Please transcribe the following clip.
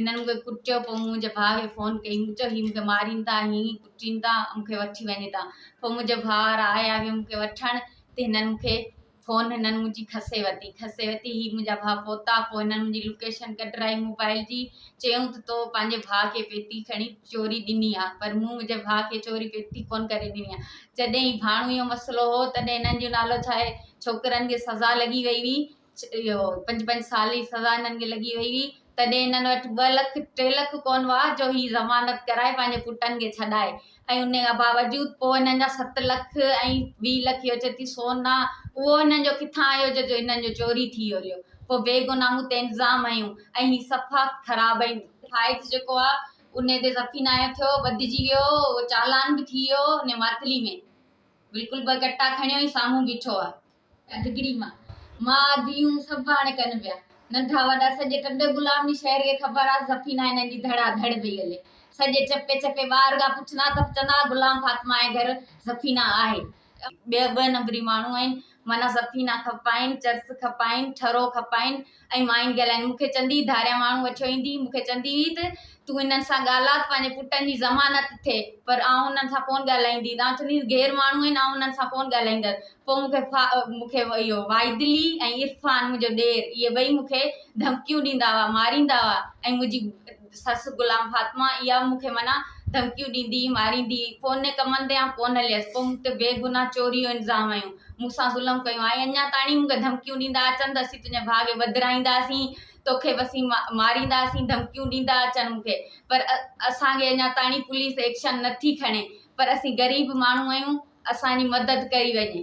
هنن مون کي ڪٽيو پوء مون منهنجي ڀاء کي فون ڪئي مون چيو هي مون کي ماريندا هي ڪٽيندا مون کي وٺي وڃي تا پوء منهنجي ڀاء وارا آيا مون کي وٺڻ تي هنن مون کي فون هنن منهنجي کسي ورتي کسي ورتي هي منهنجا ڀاء پهتا پوء هنن منهنجي لوڪيشن ڪڍرائي موبائل جي چيائون ته تو پنهنجي ڀاء کي پيتي کڻي چوري ڏني آ پر مون منهنجي ڀاء کي چوري پيتي ڪون ڪري ڏني آ جڏهن هي ڀاڻو جو مسئلو هو تڏهن هنن جو نالو ڇا آهي ڇوڪرن کي سزا لڳي وئي هئي اهو پنج پنج سال جي سزا هنن کي لڳي وئي هئي تڏهن هنن وٽ ٻه لک ٽي لک ڪون هئا جو هي ضمانت ڪرائي پنهنجي پٽن کي ڇڏائي ۽ ان کان باوجود پوء هنن جا ست لک ۽ ويهه لک اهو چئي ٿي سون آ اهو هنن جو ڪٿان آيو جو جو هنن جو چوري ٿي ويو رهيو پوء بيگناهه مون تي الزام هنيون ۽ هي صفا خراب ۽ فائز جيڪو آ ان تي صفي ناهي ٿيو ٻڌجي ويو اهو چالان به ٿي ويو ان ماتلي ۾ بلڪل ٻه ڪٽا کڻيو ۽ سامهون بيٺو آ ڌڳڙي مان ماء ڌيئون سڀ هاڻي ڪن ويا ننڍا وڏا سڄي ٽنڊي غلام جي شهر کي خبر آ سفين ۽ هنن جي ڌڙا ڌڙ پئي هلي سڄي چپي چپي ٻار ڳا پڇندا ته چوندا ها غلام فاطمه جي گهر سفينه آهي ٻه ٻه نمبري ماڻهو آهن معنيٰ سفينه کپائين چرس کپائين ٺرو کپائين. ۽ مائين ڳالهائين، مون کي چندي ڌاريان ماڻهو وٺيو ايندي، مون کي چندي هئي ته، تون انهن سان ڳالهاء ته پنهنجي پٽن جي ضمانت ٿئي، پر آئون انهن سان ڪونه ڳالهائيندي، تون چونديس غير ماڻهو آهن، آئون انهن سان ڪونه ڳالهائيندس. پوء مون کي فا، مون کي اهو واحدعلي ۽ عرفان منهنجو ڏير، اهي ٻئي مون کي ڌمڪيون ڏيندا هئا، ماريندا هئا ۽ منهنجي. سس غلام فاطمه اها مون کي معنيٰ ڌمڪيون ڏيندي هئي، ماريندي هئي. پوء ني ڪمن تي آئون ڪونه هليس. پوء مون تي بي گناهه چوريء جو الزام هنيو. مون سان ظلم ڪيو ۽ اڃا تائڻي مون کي ڌمڪيون ڏيندا اچن ته اسين تنهنجي ڀاء کي وڌرائينداسين، تو کي به اسين مارينداسين، ڌمڪيون ڏيندا اچن مون کي. پر اسان کي اڃا تائڻي پوليس ايڪشن نه ٿي کڻي. پر اسين غريب ماڻهو آهيون، اسان جي مدد ڪئي وڃي.